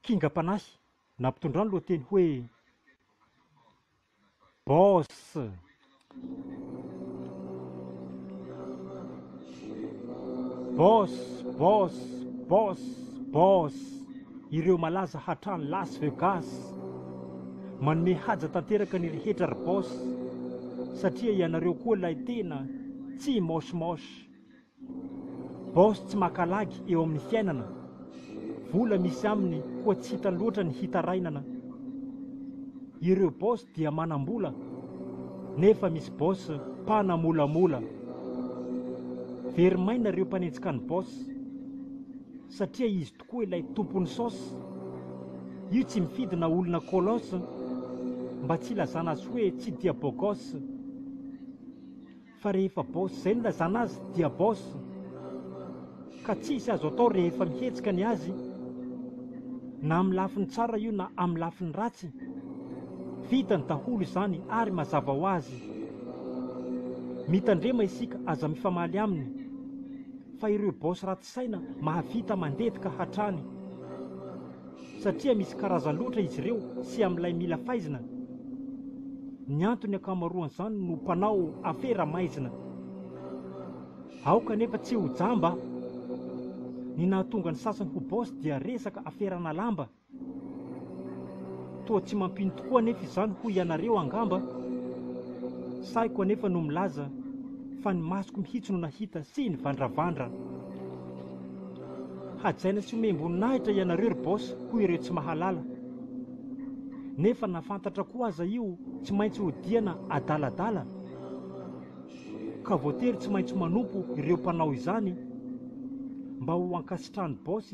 kingam-panahy na mpitondra ny lohateny hoe Boss. Boss, boss, boss, boss. Ireo malaza hatrany Las Vegas. Manome haja tanteraka ny rehetra ry boss satria ianareo koa ilay tena tsy moche moche. Boss tsy maka lagy eo amin'ny fiainana, vola misy aminy koa tsy hita loatra ny hitarainana, ireo boss dia manambola nefa misy boss mpanamolamola, very maina ireo mpanenjika ny boss satria izy tokoa ilay tompon'ny sauce, io tsy mifidy na olona colosse mba tsy hilazana azy hoe tsy dia bogosse. Fa rehefa boss zay nilazana azy dia boss ka tsisy azo atao rehefa mihetsika ny azy na amin'ny lafiny tsara io na amin'ny lafiny ratsy. Vitany daholo izany ary mazava ho azy. Mitandrema isika aza mifamaly aminy fa ireo boss ratsy. saina mahavita mandevika hatrany satria misy karazany loatra izy ireo sy amin'ilay mila faizina, ny antony ankamaroan'izany no mpanao afera maizina. Aoka anefa tsy ho jamba, ny nahatonga ny sasany ho boss dia resaka aferana lamba. Toa tsy mampino tokoa anefa izany hoy ianareo angamba? Sahiko anefa no milaza fa ny masoko mihitsy no nahita sy nivandravandra. Hajaina sy omem-boninahitra ianareo ry Boss hoy ireo tsy mahalala. Nefa na fantatra koa aza io tsy maintsy hodiana adaladala ka voatery tsy maintsy manompo ireo mpanao izany mba ho ankasitrahan'i Boss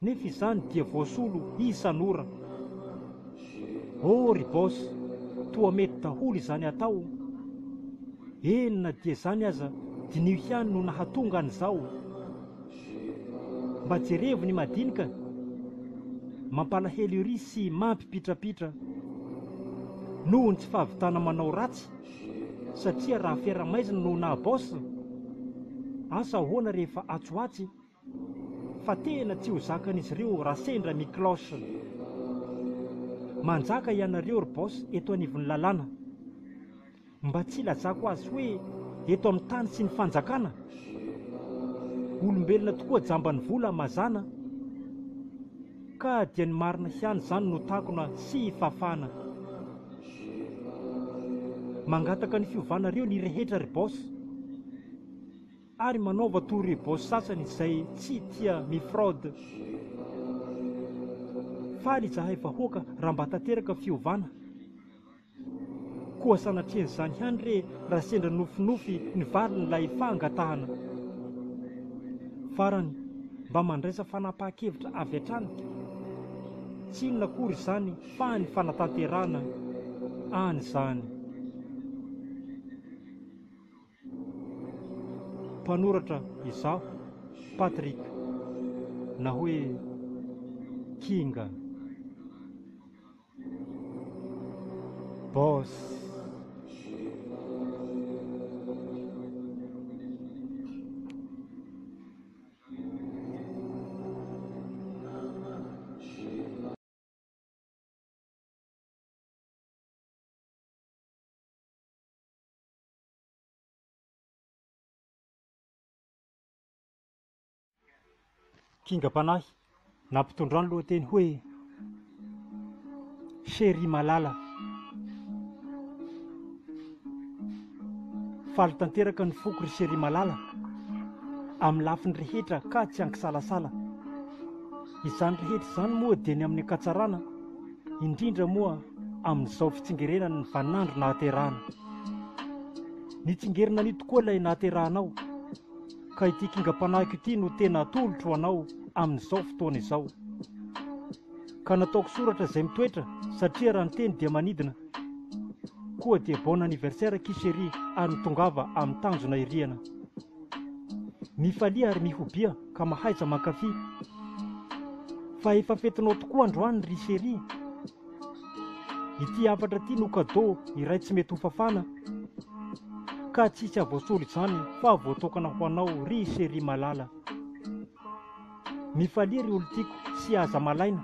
Nefa izany dia voasolo isan'ora. Oh ry boss, toa mety daholo izany atao. Eny na dia izany aza diniho ihany no nahatonga an'izao. Mba jerevo ny madinika, mampalahelo ery sy mampipitrapitra. Noho ny tsy fahavitana manao ratsy satria raha fera-maizina no naha boss? Asa ahoana rehefa atsoatsy? Fa tena tsy ho zakan'izy ireo raha sendra mi-cloche. Manjaka ianareo ry Boss eto anivon'ny lalàna. Mba tsy ilazako azy hoe eto amin'ny tany sy ny fanjakana? Olombelona tokoa jamban'ny vola mazàna an! Ka dia ny marina ihany izany no takona sy fafana. Mangataka ny fiovanareo ny rehetra ry Boss. Ary manaova toa rebao sasany izay tsy tia mi-fraude. Faly izahay vahoaka raha mba tanteraka fiovana. Koa sanatrian'izany ihany re raha sendra nofinofy ny valin'ilay fangatahana. Farany, mba mandraisa fanapahan-kevitra avy hatrany. Tsy inona akory izany fa ny fanatanterahana an'izany. Mpanoratra izaho Patrick na hoe Kinga. Boss. Kingam-panahy nampitondra ny lohateny hoe Cherie Malala. Faly tanteraka ny foko ry Cherie Malala, amin'ny lafiny rehetra ka tsy an-kisalasala. Izany rehetra izany moa dia ny amin'ny ankatsarana, indrindra moa amin'izao fitsingerenany ny vaninandro nahaterahana. Nitsingerina an'io tokoa ilay nahaterahanao, ka ity kingam-panahiko ity no tena atolotro ho anao amin'izao fotoana izao. Ka nataoko soratra izay mitoetra satria raha ny teny dia manidina. Koa dia bon anniversaire akia chérie ary ny tongava amin'ny tanjona iriana. Mifalia ary mihobia. ka mahaiza mankafy Fa efa fetinao tokoa androany ry chérie Ity hafatra ity no cadeau iray tsy mety hofafana Ka tsy hisy havoasolo izany fa voatokana ho anao ry chérie malala Mifalia ry olon-tiako sy aza malaina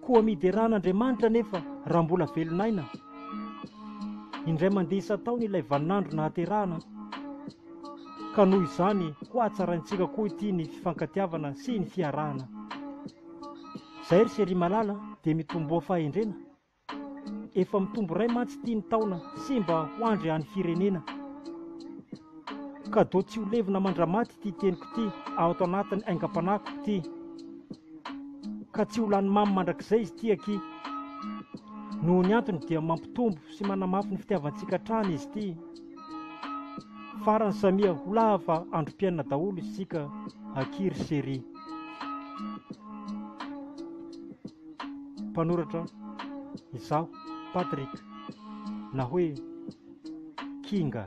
Koa miderà an'Andriamanitra anefa raha mbola velon'aina. Indray mandeha isan-taona ilay vaninandro nahaterahana, ka noho izany hohatsaraintsika koa ity ny fifankatiavana sy ny fiarahana. Izay ry Sery Malala dia mitomboa fahendrena. Efa mitombo iray mantsy ity ny taona sy mba ho andry an'ny firenena. Cadeau tsy ho levona mandramaty ity teniko ity ato anatin'ny aingam-panahiko ity. ka tsy ho lany mamy mandrakizay izy ity aky. Noho ny antony dia mampitombo sy manamafy ny fitiavantsika hatrany izy ity. Farany samia ho lava androm-piainana daholo isika aky ry Seri. Mpanoratra izaho Patrick na hoe Kinga.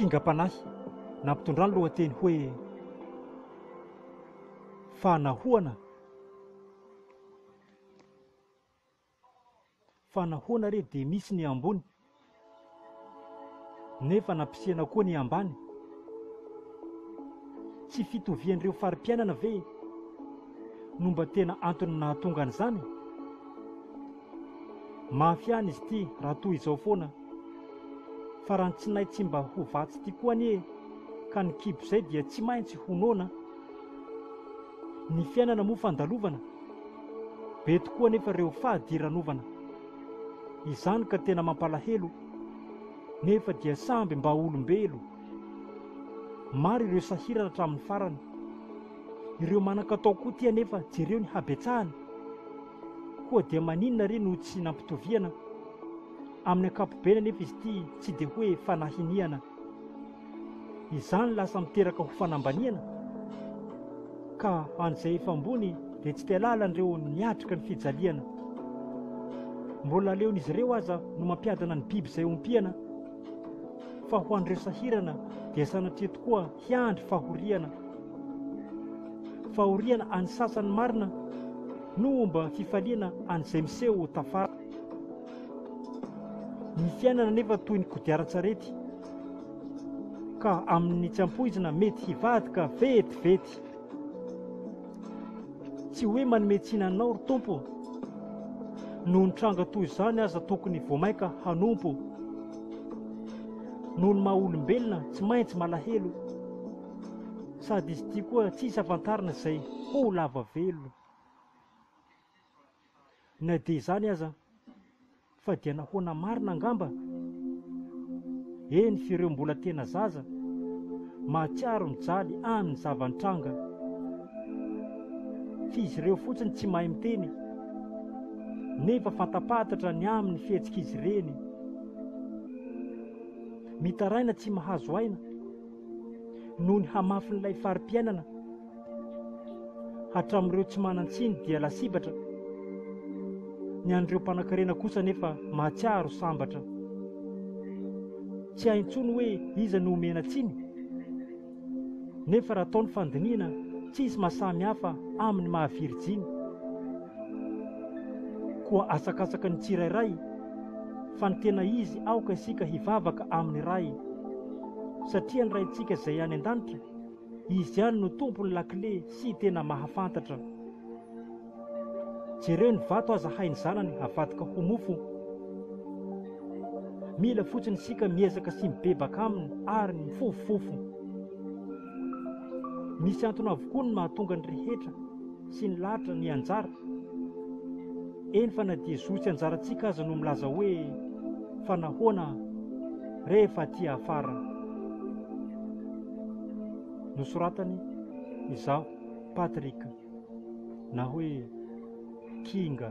kingam-panahy nampitondra ny lohateny hoe Fanahoana? Fanahoana re dia misy ny ambony nefa nampisena koa ny ambany? Tsy fitovian'ireo fari-piainana ve no mba tena antony nahatonga an'izany? Mafy ihany izy ity raha toa izao foana. Faran'ny tsinay tsy mba ho vatsy ity koa anie ka ny kibo izay dia tsy maintsy ho noana. Ny fiainana moa fandalovana. Be tokoa anefa ireo fadiranovana. Izany ka tena mampalahelo. Nefa dia samby mba olombelo. Maro ireo sahirana hatramin'ny farany. Ireo manan-katao koa ity anefa jereo ny habetsahany. Koa dia maninona re no tsy nampitoviana? Amin'ny ankapobeny anefa izy ity tsy dia hoe fanahiniana. Izany lasa miteraka ho fanambaniana. Ka an'izay efa ambony dia tsy te halala an'ireo niatrika ny fijaliana. Mbola aleon'izy ireo aza no mampiadana ny biby izay ompiana. Fa ho an'ireo sahirana dia sanatria tokoa hiandry fahoriana. Fahoriana an'ny sasany marina no homba fifaliana an'izay miseho ho tafara. Ny fiainana anefa toy ny kodiaran-tsarety ka amin'ny tsy ampoizina mety hivadika vetivety. Tsy hoe manome tsiny anao ry Tompo, noho ny tranga toy izany aza tokony vao mainka hanompo. Noho ny maha olombelona tsy maintsy malahelo, sady izy ity koa tsy hisy hafantarina izay ho lava velo. Na dia izany aza, Fa dia nahoana marina angamba? Eny, f'ireo mbola tena zaza, mahatsiaro mijaly an ny zava-nitranga. F'izy ireo fotsiny tsy mahay miteny, nefa fanta-pahatatra ny amin ny fihetsik'izy ireny. Mitaraina tsy mahazo aina, noho ny hamafin'ilay fari-piainana. Hatramin'ireo tsy manan-tsiny dia lasibatra, ny an'ireo mpanankarena kosa anefa mahatsiaro sambatra. Tsy hay intsony hoe iza no omena tsiny, nefa raha atao ny fandinihina tsy hisy mahasamy hafa amin'ny maha virijiny. Koa asakasaky ny tsirairay fa ny tena izy aoka isika hivavaka amin'ny Ray, satria ny Raintsika izay any an-danitra Izy ihany no tompon'ny lakile sy tena mahafantatra. Jereo ny vato aza hain'ny zanany havadika ho mofo. Mila fotsiny isika miezaka sy mibebaka aminy ary mifofofofo. Misy antony avokoa ny mahatonga ny rehetra. sy ny lahatra ny anjara, eny fa na dia zo tsy anjarantsika aza no milaza hoe fa nahoana rehefa aty afara no soratany izaho Patrick na hoe Kinga.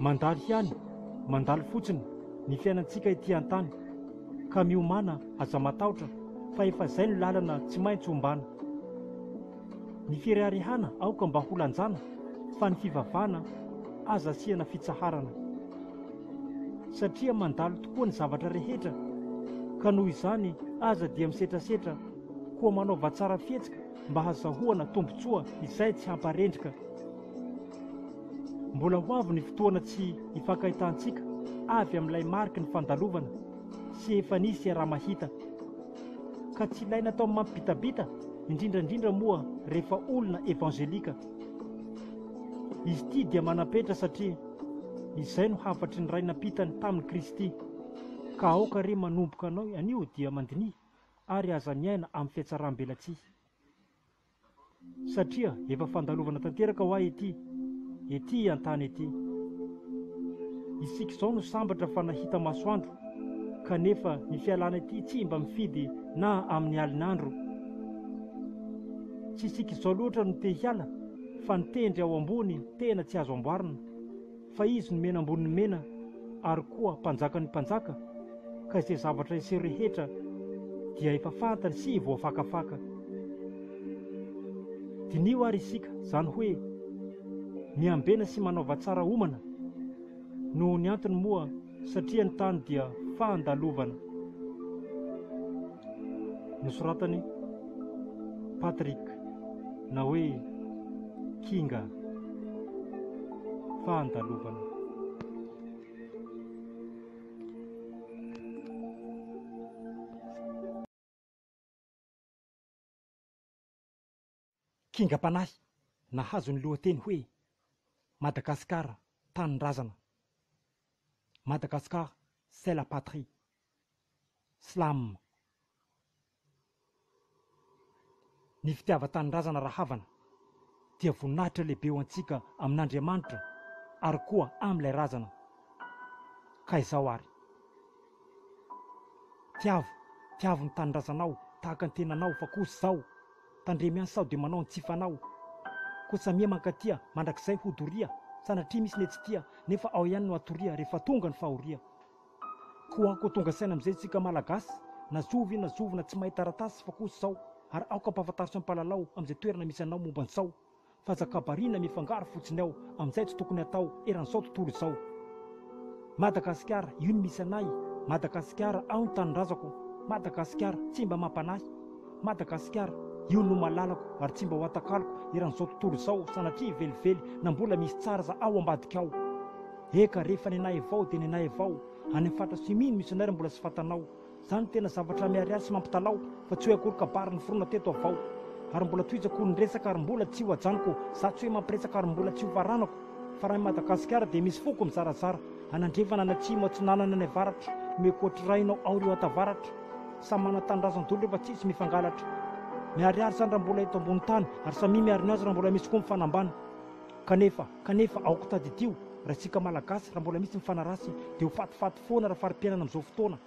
Mandalo ihany, mandalo fotsiny ny fiainantsika ety an-tany, ka miomàna aza matahotra fa efa izay no lalana tsy maintsy ombàna. Ny fireharehàna aoka mba ho lanjàna fa ny fivavahana aza asiana fitsaharana. Satria mandalo tokoa ny zavatra rehetra ka noho izany aza dia misetrasetra koa manaova tsara fihetsika mba hazahoana tombontsoa izay tsy hamparendrika. Mbola ho avy ny fotoana tsy hifankahitantsika avy amin'ilay mariky ny fandalovana sy efa nisy iaraha-mahita. Ka tsy ilaina atao mampibitabita indrindra indrindra moa rehefa olona evanjelika. Izy ity dia manam-petra satria izay no hafatry ny ray nampitany tamin'i Kristy. Ka aoka re manomboka anao anio dia mandiniha. ary aza miaina amin'ny fihatsaram-belatsihy. Satria efa fandalovana tanteraka hoa ity, ety an-tany ety. Isika izao no sambatra fa nahita masoandro, kanefa ny fialana ity tsy mba mifidy na amin'ny alin'andro. Tsy isika izao loatra no te hiala, fa ny tendry ao ambony tena tsy azo amboarina. Fa Izy no Mena ambonin'ny mena ary koa Mpanjakan'ny mpanjaka, ka izay zavatra hiseho rehetra dia efa fantany sy voafakafaka. Diniho ary isika izany hoe miambena sy manaova tsara homana. Noho ny antony moa satria ny tany dia fandalovana. Nosoratan'i Patrick na hoe Kinga, fandalovana. Kingam-panahy nahazo ny lohateny hoe Madagasikara Tanindrazana, Madagascar c'est la patrie, Slam, Ny fitiavan-tanindrazana rahavana dia voninahitra lehibe ho antsika amin'Andriamanitra ary koa amin'ilay razana, ka izao ary. Tiavo, tiavo ny tanindrazanao tahaka ny tenanao fa kosa izao, Tandremo ihany sao de manao ny tsy fanao Ko tsa miha mankatia mandrakizay ho doria Sanatria misy ne tsy tia nefa ao ihany no atoria Rehefa tonga ny fahoria Ko anko tonga saina amizay tsika malagasy Na zovy na zovy na tsy mahay taratasy fa kosa zao Ary aoka ampahafantaritsy ampahalalao Amizay toerana misy anao momba ny sao Fazakabariana mifangaro fotsiny ao amin'izay tsy tokony hatao eran'izao tontolo izao. Madagasikara, io no misy anay. Madagasikara, ao ny tanindrazako. Madagasikara, tsy mba mampanahy. Madagasikara, io no malalako ary tsy mba ho atakaloko eran'izao tontolo izao sanatria velively na mbola misy tsara aza ao ambadika ao. Eka, rehefa nenay avao dia nenay avao. Any amin'ny faritra Sumino misy anay raha mbola tsy fantanao. Zany no tena zavatra miharihary sy mampitalaho fa tsy hoe akory kabary noforona teto avao ary mbola tohizako ny resaka ary mbola tsy ho ajanoko za tsy hoe mampiresaka ary mbola tsy ho varanako fa raha i Madagasikara dia misy foko mizarazara any andrefana any atsimo atsinanana any avaratra no ekoatrirainao ao ry oatavaratra samy manana tanindrazan-dolo refa tsisy mifangalatra miharihary zany raha mbola eto ambony tany ary samia miharina azy raha mbola misy koa mifanambana Kanefa, kanefa aoka tadidio, ry antsika Malagasy, raha mbola misy ny fanaratsy, dia ho fatifaty foana raha fari-piainana amin'izao fotoana.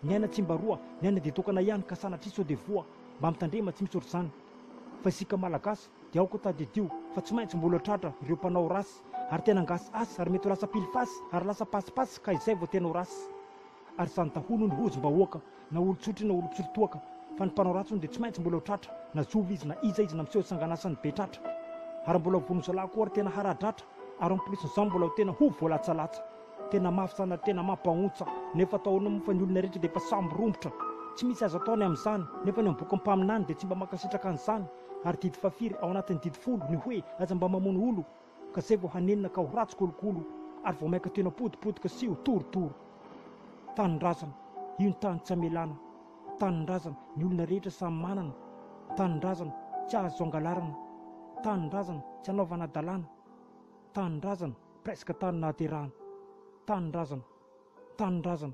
Ny aina tsy mba roa, ny aina dia tokana ihany, ka sanatria sao dia voa. Mba mitandrema, tsy misy ohatr'izany. Fa isika Malagasy, dia aoka tadidio, fa tsy maintsy mbola tratra ireo mpanao ratsy, ary tena ngasy asy, ary mety ho lasa pilifasy, ary lasa pasipasy, ka izay vao tena ho ratsy. Ary izany daholo hono hozim-bahoaka, na olon-tsotry na olon-tsirotoaka, fa ny mpanao ratsy hono dia tsy maintsy mbola ho tratra, na zovy izy, na iza izy, na miseho sangan'asany be tratra. Ary mbola ho vono zalahy koa ary tena haradratra, ary en plus n'izany mbola ho tena ho voalatsalatsa. Tena mafy izany ary tena mampahontsa, nefa atao ahoana moa fa ny olona rehetra dia efa samy rombotra. Tsy misy azo atao ny amin'izany, nefa ny am-bokin'ny mpaminany dia tsy mba mankasitraka an'izany. Ary didy fahafiry ao anatin'ny didy folo ny hoe aza mba mamono olo, ka zay vao hanenina ka ho ratsy kolokolo ary vao maika tena potipotika sy ho torotoro. Tanindrazana, io ny tany tsy amelana, tanindrazana, ny olona rehetra samy manana, tanindrazana, tsy azo angalarana, tanindrazana, tsy anaovana adalana, tanindrazana, presque tany nahaterahana, tanindrazana. Tanindrazana.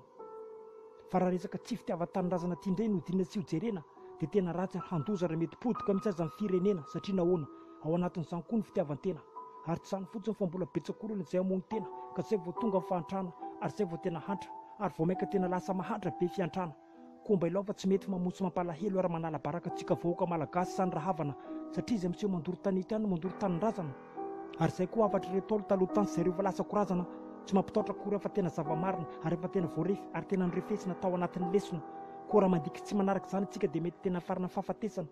Fa raha resaka tsy fitiavan-tanindrazana ty ndray no diniha tsy ho jerena dia tena ratsy ary handoza ary mety potika mintsy aza ny firenena satria nahoana? Ao anatin'izany koa ny fitiavan-tena. Ary tsy izany fotsiny fa mbola betsaka olona izay hamono tena ka zay vao tonga ny fahantrana ary zay vao tena hantra ary vao mainka tena lasa mahantra be fihantrana. Koa mba ilaova tsy mety mamono sy mampalahelo ary manala baraka antsika vahoaka malagasy izany rahavana satria izay miseho mandoro tanety ihany no mandoro tanindrazana ary izay koa hafatr'ireo ntaolo taloha tany sy izay ireo efa lasa ko razana tsy mampitaotra akory fa tena zava-marina ary efa tena voarefy ary tena norefesina tao anatin'ny lesona koa raha mandiky tsy manaraka izany isika dia mety tena hafarana amin'ny fahafatesana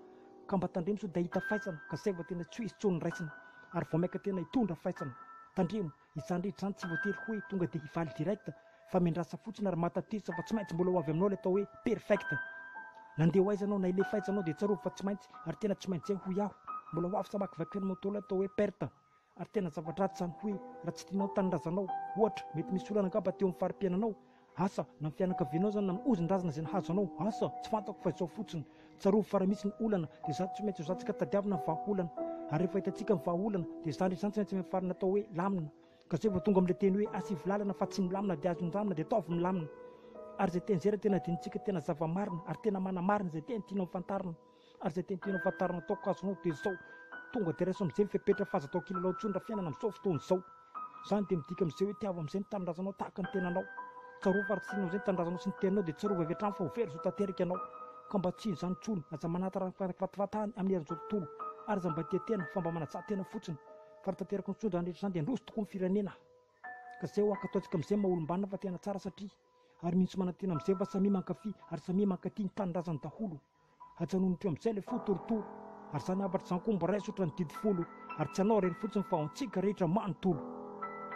ka mba tandremo sao dia hahita faisana ka saivo tena tsy ho izy intsony ny raisina ary vao maika tena hitondra faisana tandremo Izany rehetra izany tsy voatery hoe tonga dia hifaly direct fa miandrasa fotsiny ary mahatatesa fa tsy maintsy mbola ho avy aminao ilay atao hoe perfect. Nandeha ho aiza ianao na hilefa aiza ianao dia tsarovy fa tsy maintsy ary tena tsy maintsy izay hoy aho. Mbola ho avy sa hamakivaky ny moto ilay atao hoe perte ary tena zava-dratsy izany hoe raha tsy tianao ny tanindrazanao. Ohatra, mety misy olana angamba teo amin'ny fari-piainanao Asa, na ny fianakavianao izany na ny hozin-drazana izay nahazo anao, asa, tsy fantako fa izao fotsiny, tsarovy fa raha misy ny olana dia izaho tsy maintsy hozahantsika tadiavina ny vahaolana, ary rehefa hitantsika ny vahaolana dia izany rehetra izany tsy maintsy miafarana atao hoe lamina, ka izay vao tonga amin'ilay teny hoe asa ivolalana fa tsy milamina dia azo nindramina dia ataovy milamina, ary izay teny izay raha tena adinontsika tena zava-marina ary tena manamarina izay teny tianao hofantarina. Ary zay tiantegna ho fantarina ataoko azonao de zao, tonga de raiso amzay ny fepetra fa aza atao kilalao intsony ra fiainana amzao fotoana izao. Zany de midika amzay hoe tiavo amzay ny tanindrazanao tahaka ny tenanao. Tsarovy fa ra tsy tianao amzay ny tanindrazanao sy ny teninao de tsarovy avy hatrany fa ho very zo tanteraka ianao. Ka mba tsy izany intsony, aza manatara ny fahatafatany amin'ny herin'izao tontolo ary aza mba tia tena fa mba manajà tena fotsiny. Fa ra tanteraka intsony zany rehetra zany de handroso tokoa ny firenena. Ka zay ho ankatoantsika amzay ny maha olombanona fa tena tsara satria ary mihintsy manantena amzay fa samia mankafy ary samia mankatia ny tanindrazany daholo. Ajanony teo amin'izay ilay fo torotoro, ary izany hafatra izany koa miraiso ohatran'ny didy folo, ary tsy ianao irery fotsiny fa ho antsika rehetra manontolo.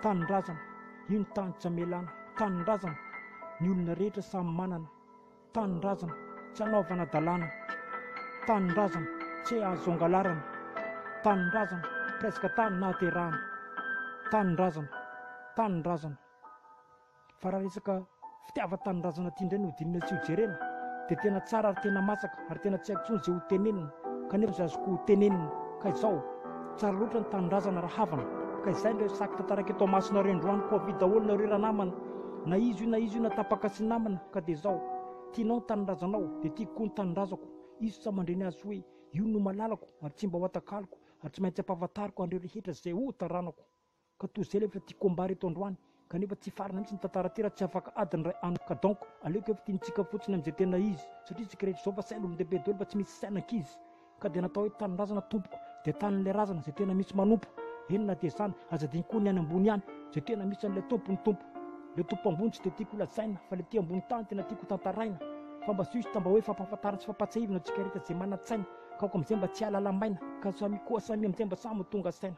Tanindrazana, io ny tany tsy amelana, tanindrazana, ny olona rehetra samy manana, tanindrazana, tsy anaovana dalàna, tanindrazana, tse azo angalarana, tanindrazana, presque tany nahaterahana, tanindrazana, tanindrazana. Fa raha resaka fitiavan-tanindrazana ity indray no dinihina sy hojerena dia tena tsara ary tena masaka ary tena tsy haiko intsony izay ho tenenina kanefa izay azoko ho tenenina ka izao, tsara loatra ny tanindrazana ra havana ka izay indray saky tantarako eto amasinareo indroany koa avia daholo nareo ranamana na izy io na izy io na tapaka sy namana ka dia izao, tianao ny tanindrazanao dia tiako koa ny tanindrazako izy tsa mandre ny azy hoe io no malalako ary tsy mba ho atakaloko ary tsy maintsy ampahafantariko anreo rehetra izay ho taranako. Ka toy izay ilay efa tia combat reto androany kanefa tsy farana mihitsy ny tantara ty raha tsy afaka ady ny ray anoko ka donc aleoko efa tiantsika fotsiny amin'izay tena izy satria isika rehetra izao fa saina olon-dehibe doly fa tsy misy saina ankizy ka dia natao hoe tanindrazana tompoko dia tanin'ilay razana izay tena misy manompo eny na dia izany aza adino koa ny any ambony ihany izay tena misy an'ilay tompo ny tompo ilay tompo ambony tsy dia tiako holazaina fa ilay aty ambony tany tena tiako hotantaraina fa mba juste mba hoe fampahafantarana sy fampahatsiahivina antsika rehetra izay manan-tsaina ka aoka amin'izay mba tsy hahalala maina ka samy koa samy amin'izay mba samy ho tonga saina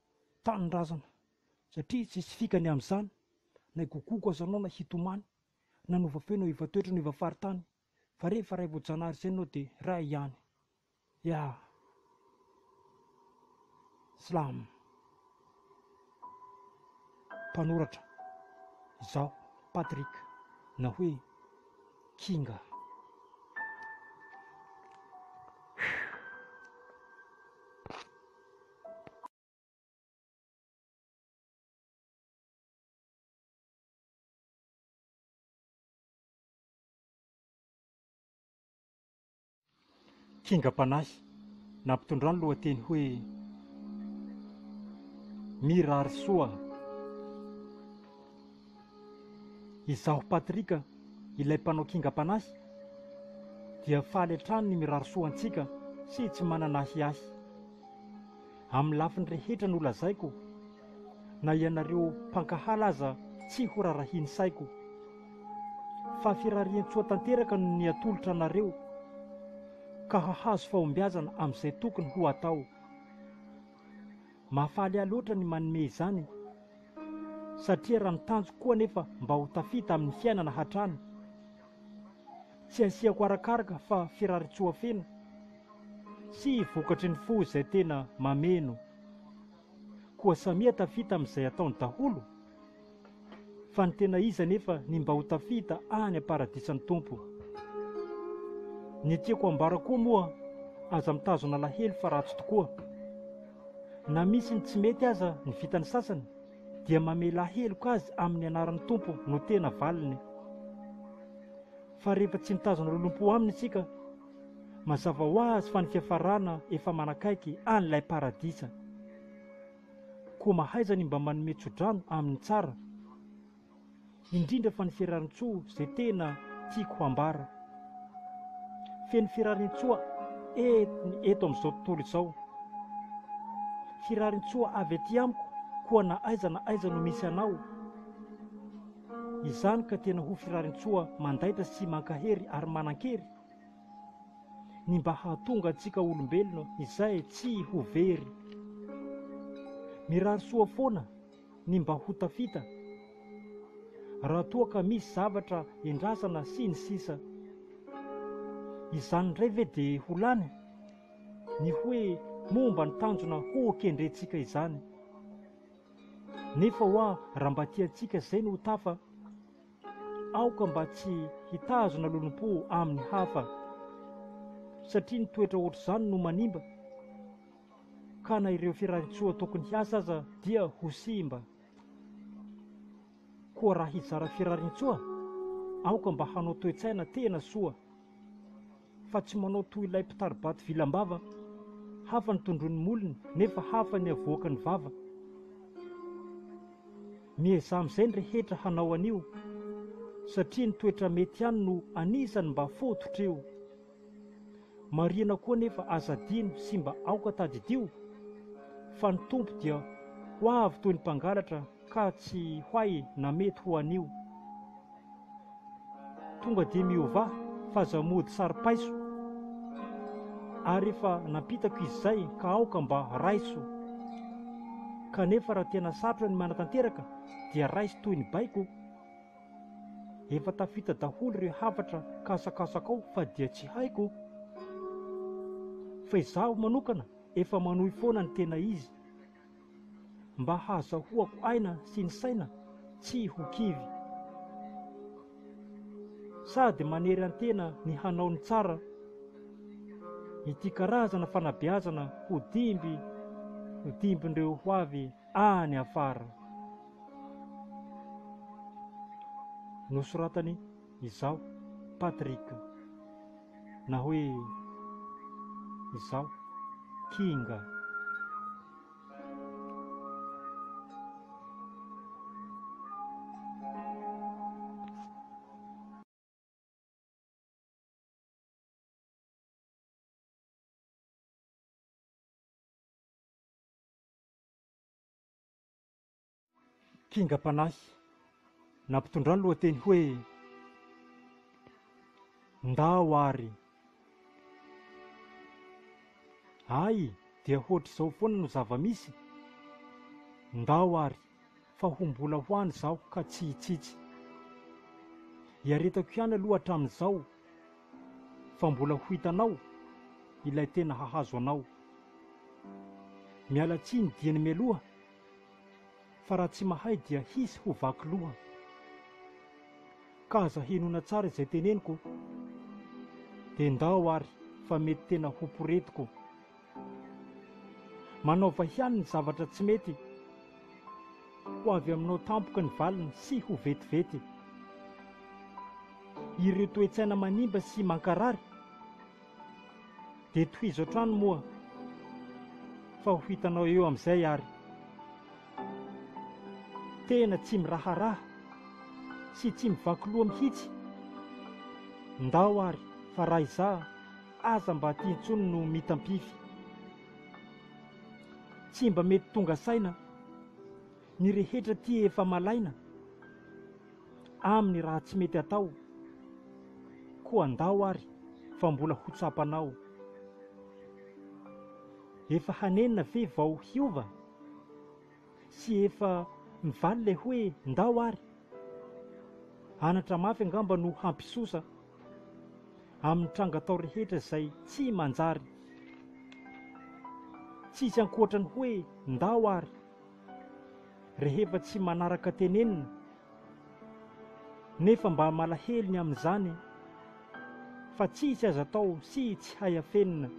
tanindrazana satria tsisy fikany amin'izany na higokoko aza anao na hitomany na nova feo na hiova toetra na hiova faritany fa rehefa ray vao janahary izay ianao dia ray ihany ya slam mpanoratra izaho Patrick na hoe kinga. Kingam-panahy nampitondra ny lohateny hoe Mirary soa. Izaho Patrick, ilay mpanao kingam-panahy, dia faly hatrany ny mirary soa antsika sy tsy manana ahiahy. Amin'ny lafiny rehetra no lazaiko, na ianareo mpankahala aza tsy horarahian'ny saiko, fa firarian-tsoa tanteraka no niatolotra anareo, ka hahazo fahombiazana amin'izay tokony ho atao. Mahafaly ahy loatra ny manome izany e! satria raha ny tanjoko koa anefa mba ho tafita amin'ny fiainana hatrany, tsy asiako arakaraka fa firarisoa feno sy vokatry ny fo izay tena mameno. Koa samia tafita amin'izay ataony daholo. Fa ny tena izy anefa ny mba ho tafita any am-paradisan'ny Tompo. Ny tiako ambara koa moa, aza mitazona alahelo fa ratsy tokoa. Na misy ny tsy mety aza ny vitan'ny sasany, dia mamela heloka azy amin'ny anaran'ny Tompo no tena valiny. Fa rehefa tsy mitazona lolompo aminy isika, mazava ho azy fa ny fiafarana efa manakaiky an'ilay paradisa. Koa mahaiza ny mba manome tsodrano amin'ny tsara Indrindra fa ny Ferarintsoa izay tena tiako hambara Feno Ferarintsoa et ny eto amin'izao tontolo izao Firarintsoa avy aty amiko koa na aiza na aiza no misy anao Izany ka tena ho Firarintsoa mandaitra sy mankahery ary manankery ny mba hahatonga antsika olombelona izay tsy ho very. Mirary soa foana ny mba ho tafita, raha toa ka misy zavatra endrasana sy ny sisa. Izany indray ve dia ho lany? Ny hoe momba ny tanjona ho kendrentsika izany. Nefa hoa raha mba tiantsika izay no ho tafa, Aoka mba tsy hitazona lolompo amin'ny hafa, satria ny toetra ohatr'izany no manimba, ka na ireo firarian-tsoa tokony hiasa aza dia ho simba. Koa raha hizara firarian-tsoa, aoka mba hanao toe-tsaina tena soa. fa tsy manao toy ilay mpitari-bato vilam-bava, hafa ny tondroin'ny molony nefa hafa ny avoaka ny vava. Miezaha amin'izay ny rehetra hanao an'io, satria ny toetra mety ihany no anisan'ny mba fototra io. Marihina koa anefa aza adino sy mba aoka tadidio, fa ny Tompo dia ho avy toy ny mpangalatra, Ka tsy hoay na mety ho anio Tonga dia miovà f'aza mody saro-paiso Ary efa nampitako izy zay ka aoka mba raiso Kanefa raha tena sarotra ny manatanteraka Dia raiso toy ny baiko Efa tafita daholo ireo hafatra kasakasakao Fa dia tsy haiko Fa izaho manokana efa manohy foana ny tena izy mba hahazahoako aina sy ny saina tsy ho kivy. Sady manery an-tena ny hanao ny tsara, ity karazana fanabeazana ho dimby ho dimbin'ireo ho avy any afara. Nosoratany Izaho Patrick na hoe izaho Kinga. kingam-panahy nampitondra ny lohateny hoe Ndao ary Ay dia hoatr'izao foana no zava-misy e! Ndao ary fa ho mbola ho any izaho ka tsy hitsitsy. Iaretako ihany aloha hatramin'izao fa mbola ho hitanao ilay tena hahazo anao. Miala tsiny dieny mialoha fa raha tsy mahay dia hisy ho vaky loha. Ka aza henoina tsara izay teneniko dia ndao ary fa mety tena ho poretiko. Manaova ihany ny zavatra tsy mety, ho avy aminao tampoka ny valiny sy ho vetivety. Ireo toe-tsaina manimba sy mankarary. Dia tohizo hatrany moa fa ho hitanao eo amin'izay ary tena tsy miraharaha sy tsy mivaky loha mihitsy. Ndao ary fa raha izaho aza mba aty intsony no mitampify. Tsy mba mety tonga saina ny rehetra aty efa malaina. aminy raha tsy mety atao koa andao ary fa mbola ho tsapanao efa hanenina ve vao hiova sy efa mivaly le hoe ndao ary anatra mafy angamba no hampisosa aminy tranga atao rehetra zay tsy manjary tsisy ankoatrany hoe ndao ary Rehefa tsy manaraka tenenina, nefa mba malahelo ny amin'izany e! Fa tsisy aza atao sy tsy hay afenina.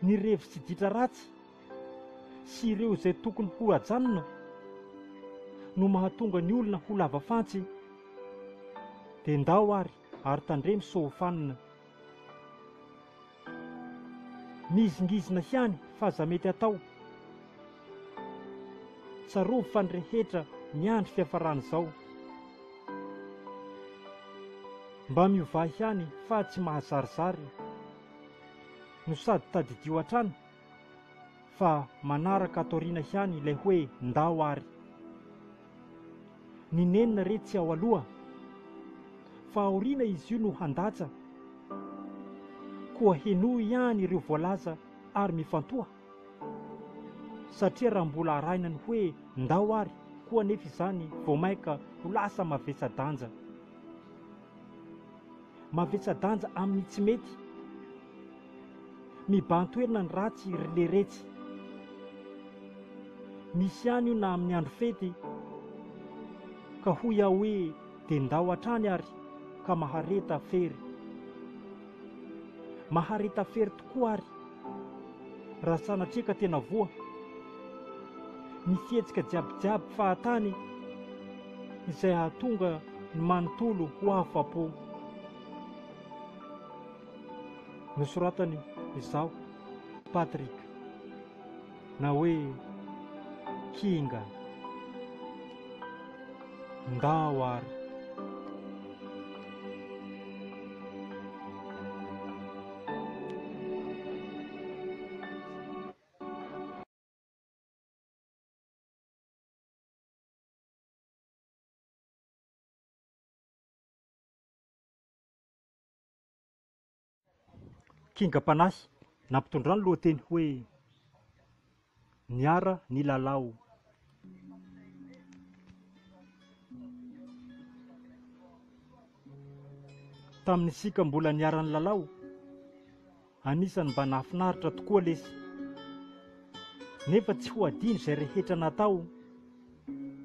Ny revy sy ditra ratsy sy ireo izay tokony ho ajanona no mahatonga ny olona ho lava fantsy. Dia ndao ary, ary tandremo sao ho fanina. Mizingizina ihany fa aza mety atao. Tsarovy fa ny rehetra miandry fiafaran'izao. Mba miovà ihany fa tsy mahazarizary. No sady tadidio hatrany fa manaraka ato aoriana ihany ilay hoe ndao ary. Ny nenina re tsy ao aloha fa aoriana izy io no handatsa. Koa henoy ihany ireo voalaza ary mifantoha. Satria raha mbola arahina ny hoe ndao ary koa anefa izany vao mainka ho lasa mavesa-danja. Mavesa-danja amin'ny tsy mety. Mibahan-toerana ny ratsy ry leretsy. Misy ihany io na amin'ny andro fety. Ka hoy aho hoe dia ndao hatrany ary ka mahareta fery. Mahareta fery tokoa ary, raha sanatria ka tena voa, ny fihetsika jiabijiaby fahatany izay hahatonga ny manontolo ho afa-po. Nosoratany izaho, Patrick. na hoe kinga ndao ary kingam-panahy nampitondra ny lohateny hoe Niara nilalao. Tamin'ny isika mbola niara nilalao, anisan'ny mba nahafinaritra tokoa lesy. Nefa tsy ho adino izay rehetra natao,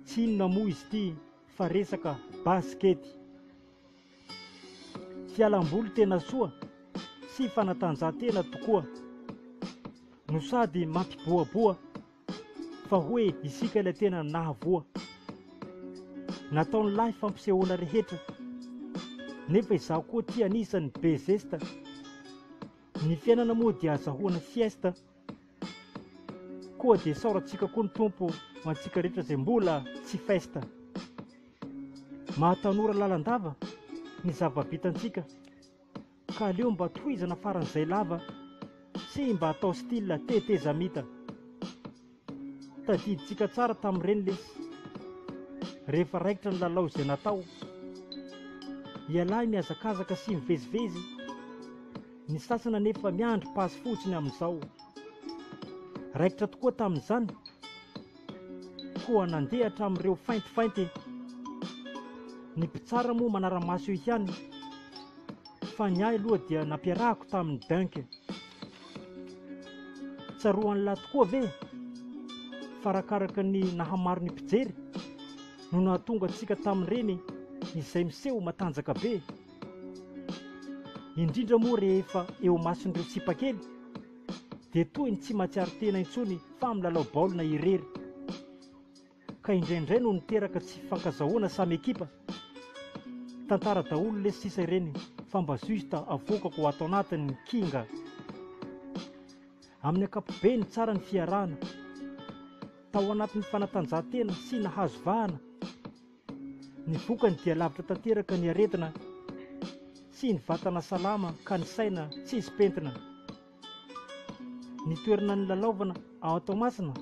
tsy inona moa izy ity fa resaka basikety. Fialam-boly tena soa sy fanatanjahantena tokoa no sady mampibohaboha fa hoe isika ilay tena nahavoa. Nataon'lahy fampisehoana rehetra nefa izaho koa tia anisany be zesta. Ny fiainana moa dia azahoana siesta. Koa dia saorantsika koa ny Tompo ho antsika rehetra izay mbola tsy festa. Mahatanora lalandava ny zava-bitantsika ka aleo mba tohizana faran'izay lava sy mba atao style tetezamita. Tadidintsika tsara tamin'ireny lesy rehefa raikitra ny lalao izay natao. Ialahy mihazakazaka sy mivezivezy. Ny sasany anefa miandry passe fotsiny amin'izao. Raikitra tokoa tamin'izany koa nandeha hatramin'ireo faintifainty. Ny mpitsara moa manara-maso eo ihany fa ny ahy aloha dia nampiarahako tamin'ny dunk. Tsaroan'lah tokoa ve fa arakaraka ny nahamaro ny mpijery no nahatonga antsika tamin'ireny izay miseho matanjaka be. indrindra moa rehefa eo imason'ireo tsipakely dia toy ny tsy mahatsiaro tena intsony fa milalao baolina irery ka indraindray no niteraka tsy fankazahoana samy ekipa tantara daholo lesy sisa ireny fa mba juste avoakako ho ato anatin'ny kinga amin'ny akapobe ny tsara ny fiarahana tao anatin'ny fanatanjahantena sy nahazo vahana Ny vokany dia lavitra tanteraka ny aretina sy ny vatana salama ka ny saina tsisy pentina. Ny toerana nilalaovana ao Toamasina,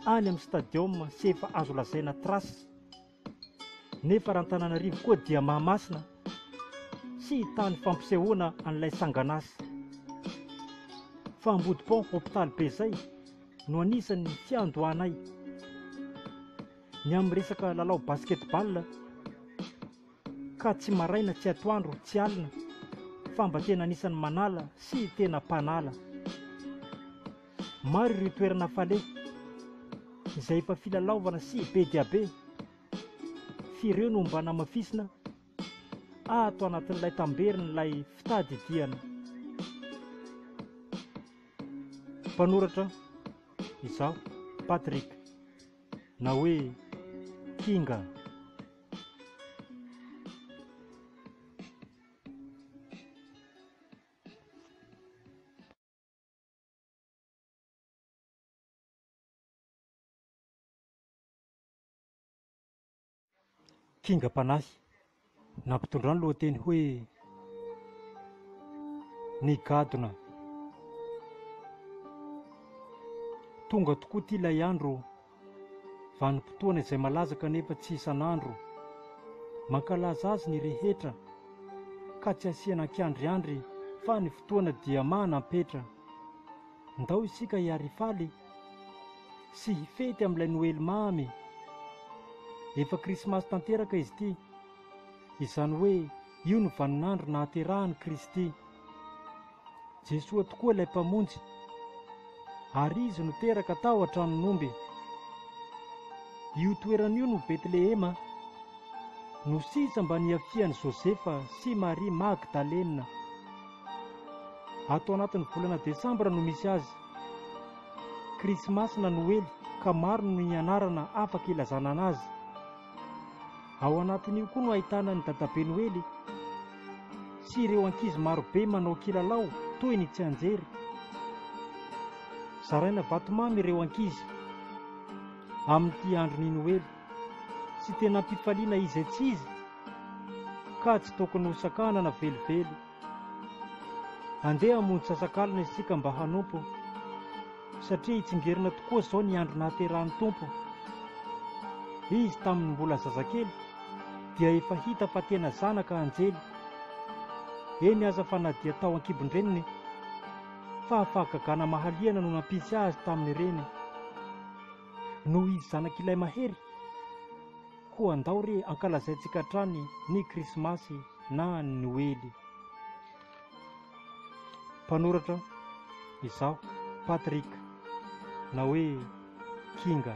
any amin'ny stadium sy efa azo lazaina trace. Nefa raha Antananarivo koa dia Mahamasina sy tany fampisehoana an'ilay sangan'asa. Fa Ambodipont Hopitaly be izay no anisan'ny fiandohanay. Ny amin'ny resaka lalao basketball ka tsy maraina tsy atoandro tsy alina fa mba tena anisan'ny manala sy tena mpanala. Maro ireo toerana fale izay efa filalaovana sy be dia be f'ireo no mba namafisina ato anatin'ilay tamberin'ilay fitadidiana. Mpanoratra izaho, Patrick. na hoe kinga. fingam-panahy nampitondra ny lohateny hoe Ny gadona. Tonga tokoa ity ilay andro vanim-potoana izay malaza kanefa tsy isan'andro. Mankalaza azy ny rehetra ka tsy asiana ankiandriandry fa ny fotoana dia manam-petra. Ndao isika hiarifaly sy hifety amin'ilay Noely mamy. Efa Krismasy tanteraka izy ity, izany hoe io no vaninandro nahaterahan'i Kristy. Jesoa tokoa ilay Mpamonjy, ary Izy no teraka tao an-tranon'omby. Io toerana io no Betlehema, no sisa mba niafian'i Josefa sy Maria Magdalena. Ato anatin'ny volana desambra no misy azy. Krismasy na Noely ka maro no nianarana afaka ilazana anazy. Ao anatin'io koa no ahitana ny Dadabe Noely sy ireo ankizy maro be manao kilalao toy ny tsianjery. Zaraina vatomamy ireo ankizy amin'ity andron'ny Noely. Tsy tena am-pifaliana izy etsy izy, ka tsy tokony ho sakanana velively. Andeha hamonjy sasak'alina isika mba hanompo, satria hitsingerina tokoa izao ny andro nahaterahan'ny Tompo. Izy tamin'ny mbola zazakely dia efa hita fa tena zanaka anjely, eny aza fa na dia tao an-kibon-dreniny. Fahafahagagana mahaliana no nampisy azy tamin'ireny. Noho izy zanak'ilay mahery, koa andao re ankalazaintsika hatrany ny Krismasy na ny Noely. Mpanoratra izaho, Patrick, na hoe Kinga.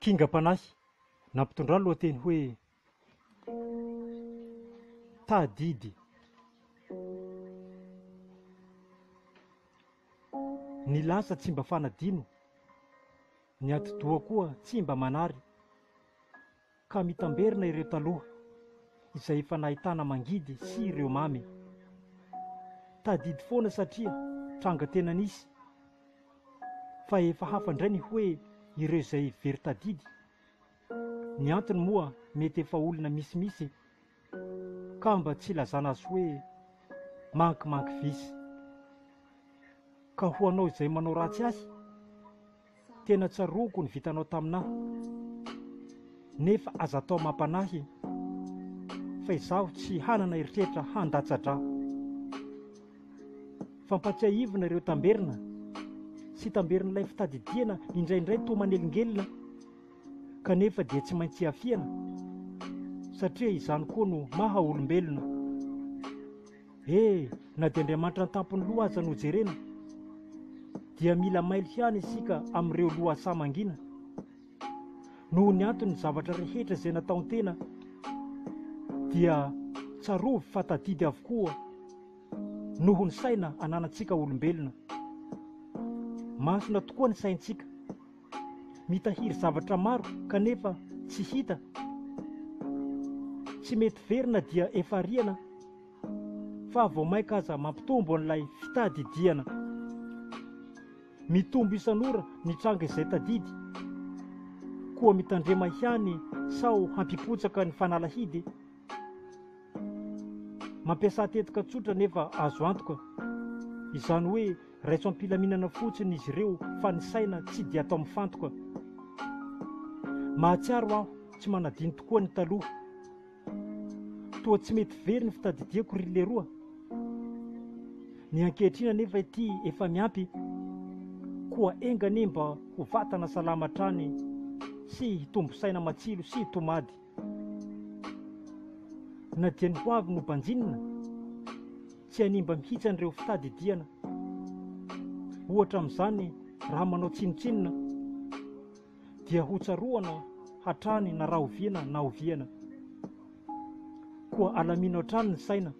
kingam-panahy nampitondra ny lohateny hoe Tahadidy Ny lasa tsy mba fanadino, ny atidoha koa tsy mba manary. Ka mitamberina ireo taloha izay efa nahitana mangidy sy ireo mamy. Tadidy foana satria tranga tena nisy fa efa hafa indray ny hoe ireo izay very tadidy. Ny antony moa mety efa olona misimisy Ka mba tsy hilazana azy hoe mank mank vice. Ka ho anao izay manao ratsy ahy, tena tsaroako ny vitanao taminah. Nefa aza atao mampanahy fa izaho tsy hanana eritreritra handatsa-dra. Fampatsiahivina ireo tamberina sy tamberin'ilay fitadidiana indraindray toa manelingelina. kanefa dia tsy maintsy hiafiana satria izany koa no maha olombelona e na dia Andriamanitra an-tampon'ny loha aza no jerena dia mila mailo ihany isika amin'ireo lohasaha mangina noho ny anton'ny zavatra rehetra izay nataon-tena dia tsarovy fa tadidy avokoa noho ny saina ananantsika olombelona masina tokoa ny saintsika Mitahiry zavatra maro kanefa tsy hita. Tsy mety very na dia efa riana fa vao maika aza mampitombo an'ilay fitadidiana. Mitombo isan'ora ny tranga izay tadidy. Koa mitandrema ihany sao hampipotsaka ny fanalahidy. Mampiasa tetika tsotra nefa azo antoka. Izany hoe Raiso am-pilaminana fotsiny izy ireo fa ny saina tsy dia atao mifantoka. Mahatsiaro aho tsy manadino tokoa ny taloha. Toa tsy mety very ny fitadidiako ry leroa. Ny ankehitriny anefa ity efa miampy. Koa enga anie mba ho vatana salama hatrany sy hitombo saina matsilo sy tomady. Na dia ny hoavy no banjinina, tsy hanimba mihitsy an'ireo fitadidiana. Ohatra amin'izany, raha manao tsinontsinona, dia hotsaroana hatrany na rahoviana na oviana. Koa alamino hatrany ny saina,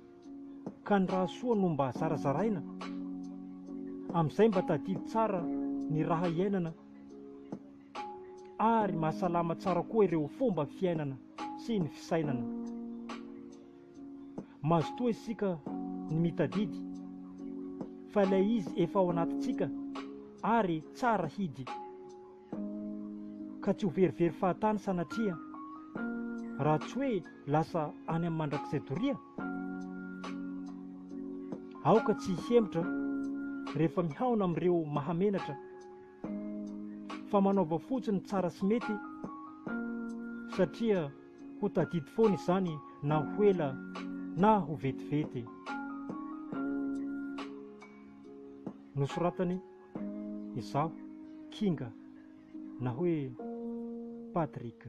ka ny raha soa no mba zarazaraina. Amin'izay mba tadidy tsara ny raha iainana. ary mahasalama tsara koa ireo fomba fiainana sy ny fisainana. Mazotoa isika ny mitadidy fa ilay izy efa ao anatintsika ary tsara hidy, ka tsy ho verivery fahatany sanatria, raha tsy hoe lasa any amin'ny mandrakizay doria. Aoka tsy hihemotra rehefa mihaona amin'ireo mahamenatra. fa manaova fotsiny ny tsara sy mety satria ho tadidy foana izany na ho ela na ho vetivety. Nosoratany izaho, Kinga, na hoe Patrick.